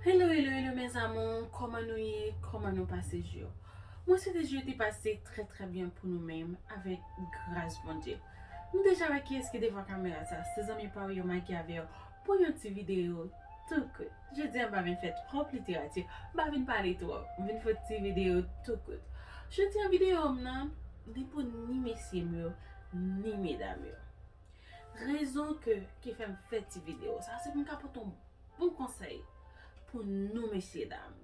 Hello hello hello mes amours koman nou ye koman nou pase jou yo mwen swete jou yo te pase trè trè byen pou nou menm avèk gras Bondye nou deja wè kiyès ki devan kamera sa se zanmi pa ou yo Maggie avèw pou yon ti video tou kout jodia m pa vin fè twòp literati m pa vin pale twòp m vin fè ti video tou kout jodia video m nan li pou ni mesye m yo ni medam yo rezon ke ki fèm fè ti video sa se pou m ka pote yon Bon konsèy pou nou mesye dam.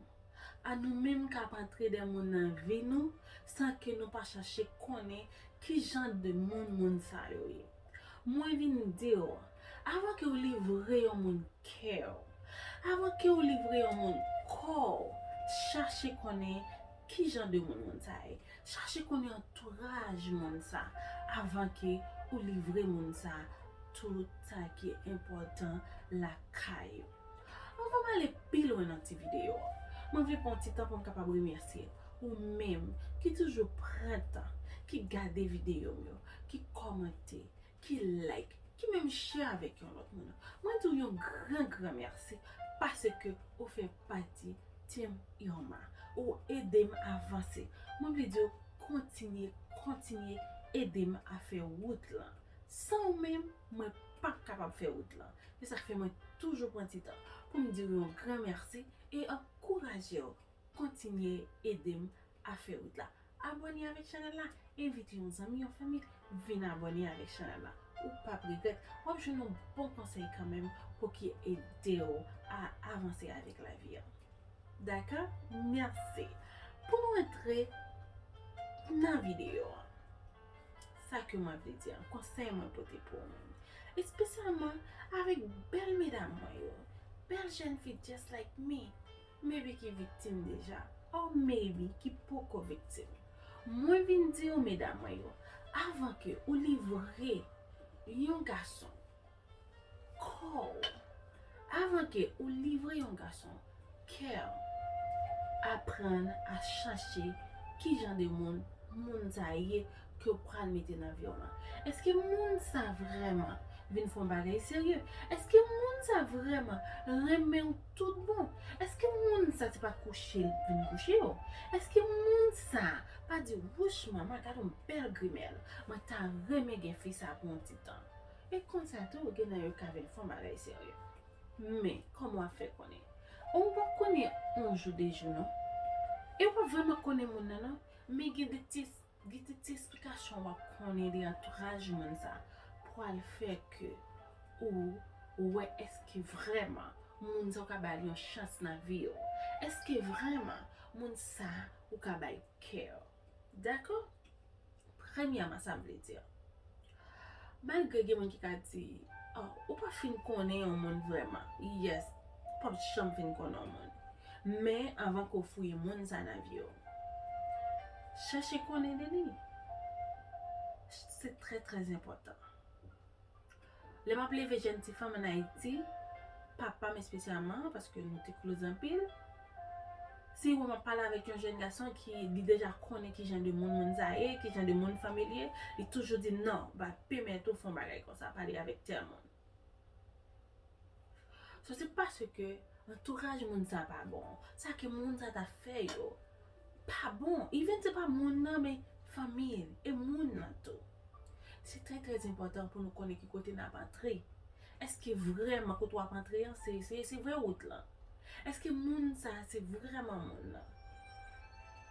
A nou menm kap antre de moun nan vi nou san ke nou pa chache konnen ki jan de moun moun sa yo ye. Mwen vin diw, avan ke ou livre yon moun kèw, avan kew livre yon moun kòw, chache konnen Ki jan de moun moun sa ye? Chache konnen antouraj moun sa avan ke ou livre moun sa tout sa ki enpòtan lakay ou. Anvan m ale pi lwen nan ti videyo an, mwen vle pran yon ti tan pou m kapab remèsye ou menm ki toujou pran tan, ki gade videyo m yo, ki kòmante, ki like, ki menm share avèk yon lòt moun. Mwen di w yon gran gran mèsi paske ou fè pati Team Irma. Ou ede m avanse. Mwen vle di w kontinye, kontinye ede m a fè wout lan. San ou menm, mwen pa p kapab fè wout lan. Se sa k fè mwen toujou pran ti tan pou m di w yon gran mèsi e ankouraje w kontinye ede m a fè wout la. Abone avèk chanèl la, envite yon zanmi, yon fanmi vin abone avèk chanèl la. Ou pap regrèt, wap jwenn yon bon konsèy kanmenm pou ki edew a avanse avèk lavi an. Dakò? Mèsi. Pou nou antre nan videyo an. Sa ke mwen vle di an, konsèy mwen pote pou ou menm. Espesyalman avèk bèl medam mwen yo, bèl jèn fi just like me. Maybe ki viktim deja or maybe ki poko viktim. Mwen vin di ou medam mwen yo, avan ke ou livre yon gason kò ou, avan ke ou livre yon gason kè ou, aprann a chache kijan de moun moun sa ye ke w pral mete nan vi w lan? Eske moun sa vrèman vin fè yon bagay serye? Eske moun sa vrèman renmen w tout bon? Eske moun sa se pa kouche li vin kouche yo? Eske moun sa pa di w, wouch manman gad yon bèl grimèl, mwen ta renmen gen fi sa pou yon ti tan? E konsa tou gen nan yo ka vin fè yon bagay serye. Men, kòman w ap fè konnen? Ou p ap konnen yon jou de jou non. E ou p ap vrèman konnen moun nan non. Men gen de ti. Gen ti ti esplikasyon wap konnen de antouraj moun sa pwal fè ke ou wè eske vrèman moun sa ou ka bal yon chans nan viw, eske vrèman moun sa ou ka bay kew. Dakò? Premyèman sam vle di Malgre gen moun ki ka di, oh, ou pa fin konnen yon moun vrèman. Yes, ou pap janm fin konnen yon moun. Men, anvan ke w fouye moun sa nan vi w, chèche konnen de li. Se trè trè enpòtan. Lè m ap leve jèn ti fanm an Ayiti, papa m espesyalman, paske nou te kloz anpil, Si yon moun pale avèk yon jèn gason ki li deja konnen ki jan de moun moun sa a ye, ki jan de moun fanmi l ye, li toujou di, non, m pa pèmèt ou fè yon bagay konsa, pale avèk tèl moun. So se paske antouraj moun sa a pa bon, sa ke moun sa a t ap fè yo pa bon, even se pa moun nan men fanmi l e moun nan tou. Se trè trè enpòtan pou nou konnen ki kote n ap antre. Eske vrèman kote wap antre an se se vre wout lan? Eske moun sa a se vrèman moun nan?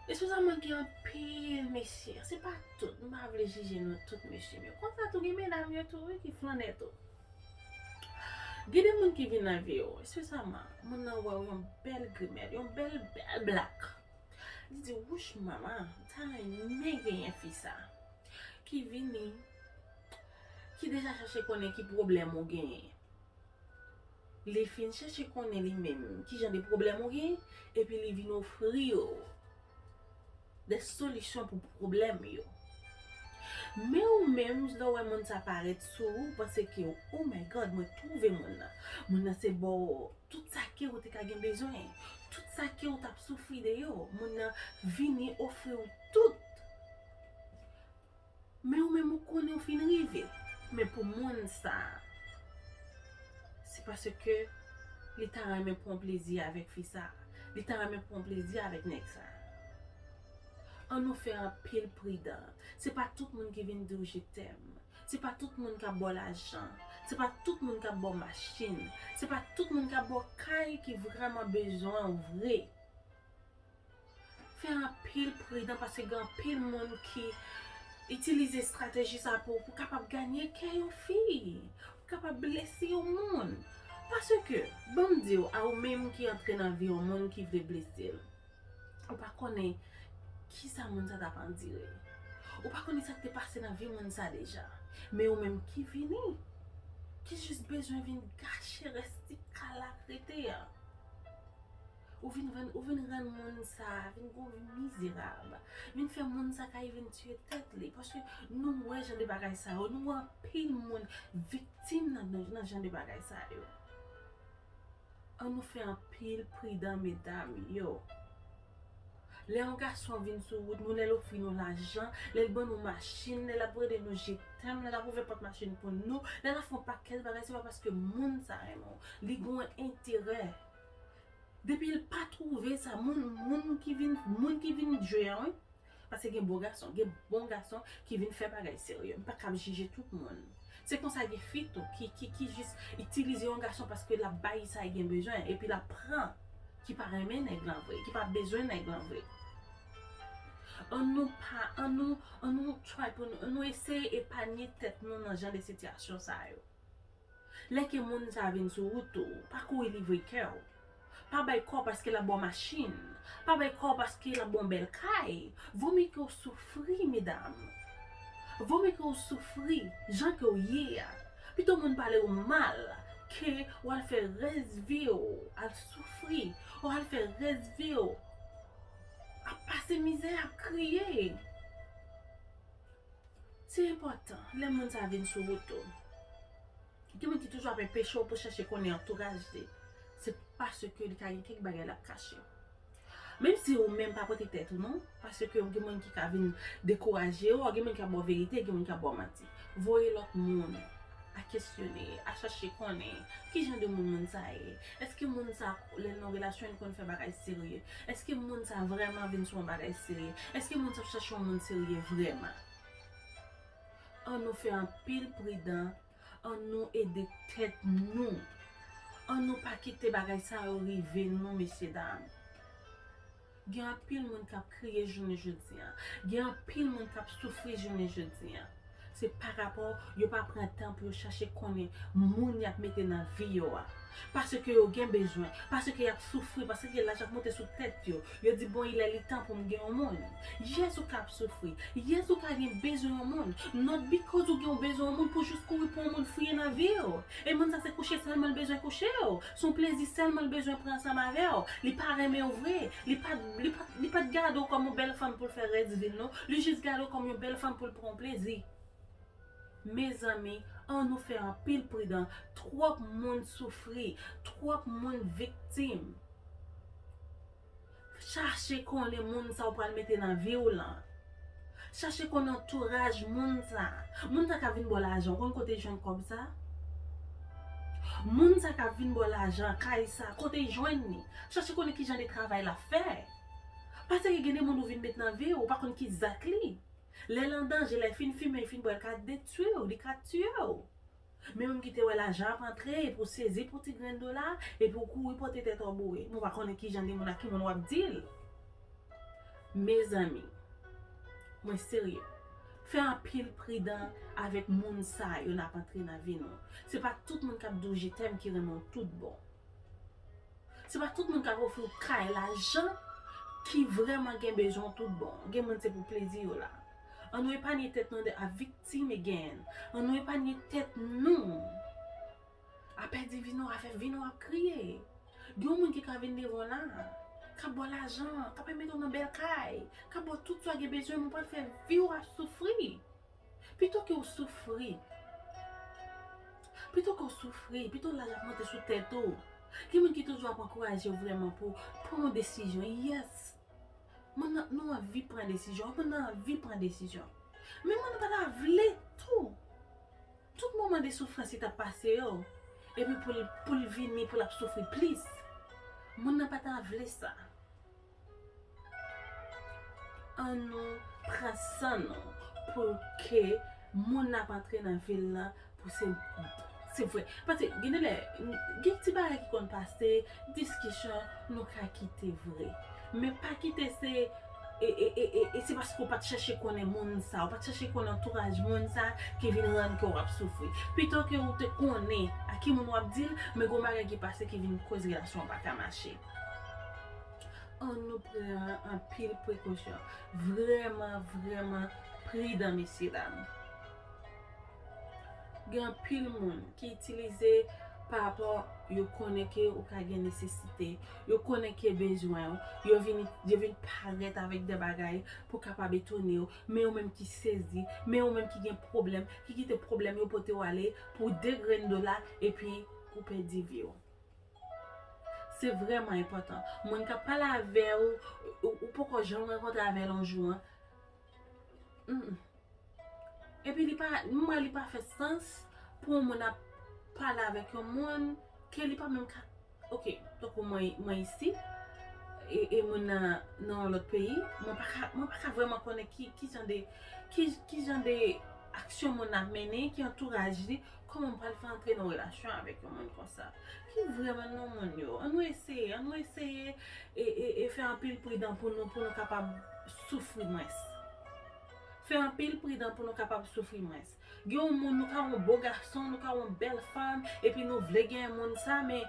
Espri sa manke anpil mesye, se pa tout, m pa vle jije nou tout mesye men konsa tou gen medam yo tou wi ki flannè tou. Gen de moun ki vin nan vi w, espesyalman moun nan wè w yon bèl grimèl, yon bèl bèl blak, li di wouch manman m ta renmen genyen fi sa ki vini. ki deja chache konnen ki pwoblèm ou genyen. Li fin chache konnen li menm ki jan de pwoblèm ou genyen epi li vin ofri yo de solisyon pou pwoblèm yo. Men ou menm lè w wè moun sa parèt sou ou, ou panse ke oh my God mwen twouve moun nan. Moun nan se ba w tout sa ke ou te ka gen bezwen, tout sa ke ou t ap soufri de yo, moun nan vini ofri w tout. Men ou menm ou konnen ou fin rive. Men pou moun sa a. Se paske li ta renmen pran plezi avèk fi sa a. Li ta renmen pran plezi avèk nèg sa a. An nou fè anpil pridan. Se pa tout moun ki vin di w je tèm. Se pa tout moun k ap ba w lajan. Se pa tout moun k ap ba w machin. Se pa tout moun k ap ba w kay ki vrèman bezwen ou vre. Fè anpil pridan paske gen anpil moun ki itilize estrateji sa pou kapab ganye kè yon fi, pou kapab blese yon moun. Paske, ban m di w, a ou menm ki antre nan vi yon moun ki vle blese l, ou pa konnen ki sa moun sa t ap andire. Ou pa konnen sa k te pase nan vi moun sa deja. Men ou menm ki vini, ki jis bezwen vin gache rès ti kal la k rete an. Ou vin rann ou vin rann moun sa vin gwo vin mizerab vin fè moun sa kay vin tiye tèt li paske nou wè jan de bagay sa yo nou wè anpil moun viktim nan jan de bagay sa yo an nou fè anpil pridan medam yo lè yon gason ap vin sou wout nou lè l ofri nou lajan lè l ban nou machin lè l ap rele nou je tèm lè l ap ouvè pòt machin pou nou lè l ap fè yon pakèt bagay se pa paske moun sa renmen w li gen yon enterè Depi l pa twouve sa moun moun ki vin moun ki vin jwe an wi paske gen bon gason gen bon gason ki vin fè bagay serye m pa kab jije tout moun se konsa gen fi tou ki ki ki jis itilize yon gason paske l ap ba li sa li gen bezwen epi l ap pran ki pa renmen nèg lan vre ki pa bezwen nèg lan vre an nou pa an nou an nou try pou nou an nou eseye epanye tèt nou nan jan de sitiyasyon sa yo. Lè ke moun sa vin sou wout ou, pa kouri livre kè w. Pa bay kò w paske l ap ba w machin. Pa bay kò w paske l ap ba w yon bèl kay. Vo mye ke w soufri, medam. Vo mye ke w soufri jan ke w ye a. Pito moun pale w mal ke w al fè rès vi w al soufri. Ou al fè rès vi w ap pase mizè, ap kriye. Se enpòtan lè moun sa vin sou wout ou. Gen moun ki toujou ap enpeche w pou chèche konnen antouraj li. Se paske li ka gen kèk bagay l ap kache. Menm si ou menm pa pote tèt ou non. Paske gen moun ki ka vin dekouraje w. Gen moun ki ap ba w verite, gen moun ki ap ba w manti. Voye lòt moun a kesyone, a chèche konnen ki jan de moun moun sa ye. Eske moun sa lèl nan relasyon li konn fè bagay serye? Eske moun sa vrèman vin sou yon bagay serye? Eske moun sa ap chache yon moun serye vrèman? An nou fè anpil pridan, an nou ede tèt nou, an nou pa kite bagay sa yo rive nou mesye dam. Gen anpil moun kap kriye jounen jodi an. Gen anpil moun kap soufri jounen jodi an. Se pa rapò yo pa pran tan pou yo chache konnen moun yap mete nan vi yo a. Paske yo gen bezwen. Paske yap soufri. Paske laj ap monte sou tèt yo. Yo di bon ilè litan poum gen yon moun. Yes ou ka ap soufri. Yes ou ka gen bezwen yon moun. Not because ou gen yon bezwen yon moun pou jis kouri pou yon moun fouye nan viw. E moun sa se kouche sèlman l bezwen kouchew. Son plezi sèlman l bezwen pran ansanm avè w. Li pa renmen w vre. Li pa li pa t gade w kòm yon bèl fanm pou l fè rès vi l non. Li jis gade w kòm yon bèl fanm pou l pran w plezi. Mezanmi, an nou fè anpil pridan. Twòp moun soufri. Twòp moun viktim. Chache konnen moun sa ou pral mete nan vi ou lan. Chache konnen antouraj moun sa. Moun sa ka vin ba w lajan, ou konn kote li jwenn kòb sa? Moun sa ka vin ba w lajan, kay sa, kote li jwenn li? Chache konnen ki jan de travay l ap fè. Paske gen de moun ou vin met nan vi ou, ou pa konn ki zak li. Lè l an danje, lè l fin fimen, l fin bwè, l ka detwi w, li ka tiye w. Men menm ki te wè lajan ap antre epi w sezi pou ti grenn dola epi w kouri pote tèt w boure. Mwen pa konnen kijan de moun ak ki moun wap di l. Mezanmi. Mwen serye. Fè anpil pridan avèk moun sa yo nap antre nan vi nou. Se pa tout moun kap di w je tèm ki renmen w tout bon. Se pa tout moun kap ofri w kay lajan ki vrèman gen bezwen w tout bon. Gen moun se pou plezi yo la. An nou epanye tèt nou de ap viktim again. An nou epanye tèt nou. Apè divino afè vino ap kriye. Gen yon moun ki ka vin devan w la. Kap ba w lajan. Kap al mete w nan bèl kay. Kap ba w tout sa w gen bezwen men w pral fè vi w ap soufri. Pito ke w soufri. Pito ke w soufri. Pito laj ap monte sou tèt ou. Gen moun ki toujou ap ankouraje w vrèman pou w pran yon desizyon. Yes. Moun nan nou anvi pran desizyon. Moun nan anvi pran desizyon. Men moun nan pa ta vle tou. Tout moman de soufrans li t ap pase yo. Epi pou l vini pou l ap soufri plis. Moun nan pa ta vle sa. An nou pran san nou. Pou ke moun n ap antre nan vil lan Pou se Se vre. Paske gen de lè, gen ti bagay ki konn pase, diskisyon, nou ka kite vre. Men pa kite se e, e, e, e, e se paske ou pa t chèche konnen moun sa a, ou pa t chèche konnen antouraj moun sa a ki vin rann kè w ap soufri. Pito ke ou te konnen a ki moun w ap di l, men gen yon bagay ki pase ki vin koz relasyon an pa ka mache. An nou pran anpil prekosyon. Vrèman, vrèman pridan mesye dam. Gen anpil moun ki itilize pa rapò yo konnen ke ou ka gen nesesite, yo konnen ke bezwen ou, yo vini, yo vini parèt avèk de bagay pou kapab etone ou, men ou menm ki sezi, men ou menm ki gen pwoblèm, ki kite pwoblèm yo pote ou ale pou de grenn dola epi ou pèdi vi ou. Se vrèman enpòtan. Moun kap pale avè ou, ou poko janm rankontre avè l yon jou an, Humm. Epi li pa, m wè li pa fè sans pou yon moun ap pale avèk yon moun ke li pa menm ka Ok, tankou mwen, mwen isi e moun nan nan yon lòt peyi, mwen pa ka, mwen pa ka vrèman konnen ki jan de, ki jan de aksyon moun nan ap mennen, ki antouraj li. Kòman m pral fè antre nan relasyon avèk yon moun konsa? Ki vrèman non moun yo? An nou eseye, an nou eseye e fè anpil pridan pou nou pou nou kapab soufri mwens. Fè anpil pridan pou nou kapab soufri mwens. Gen yon moun nou ka wè yon bo gason, nou ka wè yon bèl fanm, epi nou vle gen yon moun sa men.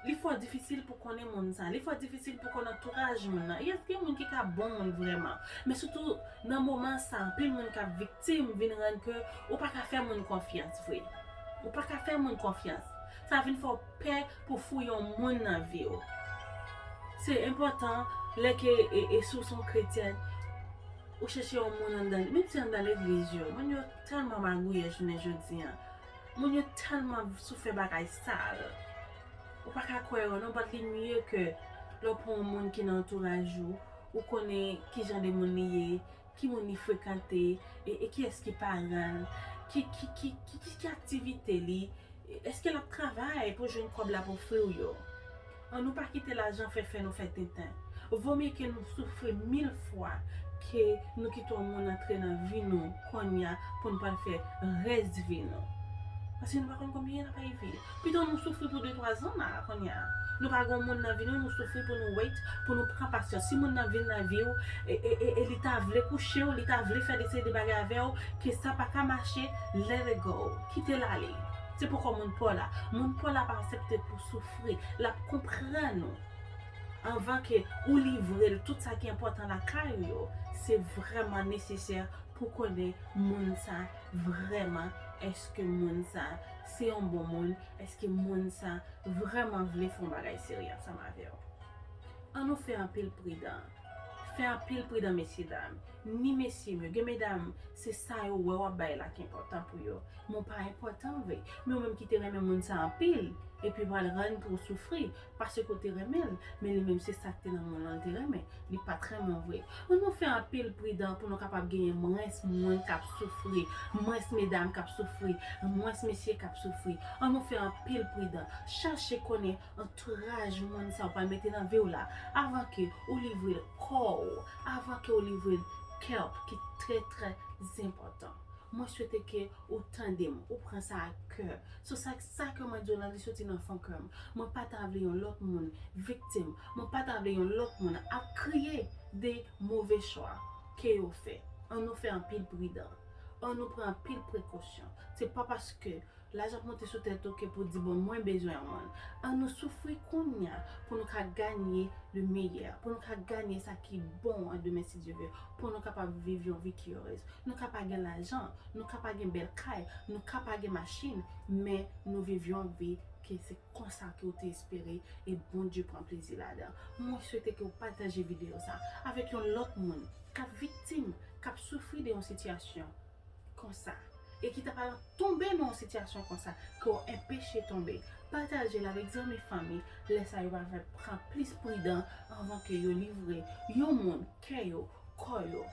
Li fò difisil pou konnen moun sa. Li fò difisil pou konn antouraj moun nan. Yes gen moun ki ka bon moun vrèman. Men sitou nan moman sa anpil moun kap viktim vin rann ke ou pa ka fè moun konfyans vre. Ou pa ka fè moun konfyans. Sa vin fè w pè pou fouye yon moun nan vi w. Se enpòtan lè ke e si w son kretyèn ou chèche yon moun anndan menm si anndan legliz yo. Moun yo tèlman magouyè jounen jodi an. Moun yo tèlman sou fè bagay sal. Ou pa ka kwè yo non but li mye ke lè w pran yon moun ki nan antouraj ou, ou konnen ki jan de moun li ye, ki moun li frekante, e ki yès ki paran l, ki aktivite li, èske l ap travay pou jwenn kòb l ap ofri w yo. An nou pa kite lajan fè fè nou fè tenten. Vo mye ke nou soufri mil fwa ke nou kite yon moun antre nan vi nou konnya pou n pral fè rès vi nou. Paske nou pa konn konbyen nap ay viv. Pito nou soufri pou de twa zan ma konnya. Nou pa gen yon moun nan vi nou nou soufri pou nou wait, pou nou pran pasyans. Si moun nan vin nan vi w e li ta vle kouche w, li ta vle fè de seri de bagay avè w, ke sa pa ka mache, let it go. Kite l ale. Se poko moun pa w la. Moun pa w la pa asepte pou w soufri. espri, l ap konprann ou anvan ke ou livre l tout sa ki enpòtan lakay ou yo, se vrèman nesesè pou konnen moun sa vrèman, èske moun sa se yon bon moun, èske moun sa vrèman vle fè yon bagay serye ansanm avè w. An nou fè anpil pridan, fè anpil pridan mesye dam. Ni mesye m yo. Gen medam, se sa yo wè w ap bay la ki enpòtan pou yo. Men w pa enpòtan vre. Men w menm ki te renmen moun sa anpil, epi ou pral rann pou w soufri, paske w te renmen l, men li menm se sa k te nan moun lan l te renmen, li pa t renmen w vre. An nou fè anpil pridan pou nou kapab genyen mwens moun k ap soufri, mwens medam k ap soufri, mwens mesye k ap soufri. An nou fè anpil pridan. Chache konnen. Antouraj moun sa ou pral mete nan vi w la avan ke ou livre l kò w, avan ke ou livre l kè w ki trè trè enpòtan. Mwen swete ke ou tande m, ou pran sa ak kè. Sou sa sa ke mwen di w lan li soti nan fon kè m. Mwen pa ta vle yon lòt moun viktim, mwen pa ta vle yon lòt moun ap kriye de move chwa ke yo fè. An nou fè anpil pridan, an nou pran anpil prekosyon. Se pa paske. Laj ap monte sou tèt ou ke pou di bon mwen bezwen yon moun. An nou soufri kounya pou nou ka ganye le meyè, pou nou ka ganye sa ki bon an demen si Dye ve, pou nou kapab viv yon vi ki erez. Nou ka pa gen lajan, nou ka pa gen bèl kay, nou ka pa gen machin, men nou viv yon vi ke se konsa ke ou te espere e Bondye pran plezi ladan. Mwen swete ke ou pataje video sa avèk yon lòt moun kap viktim, kap soufri de yon sitiyasyon. konsa e ki ta pa lan tonbe nan yon sitiyasyon konsa ke w enpeche tonbe, pataje l avèk zanmi fanmi, lè sa yo va fè pran plis pridan anvan ke yo livre yon moun kè yo, kò yo,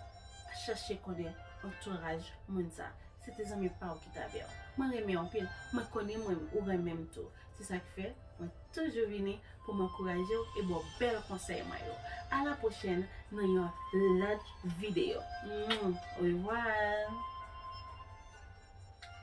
chache konnen antouraj moun sa se te zanmi pa w ki t avè w. Mwen renmen w anpil, mwen konnen mwen ou renmen m tou. Se sa k fè, mwen toujou vini pou m ankouraje w e ba w bèl konsèy mwen yo. A la pwochèn nan yon lòt videyo. Orevwa!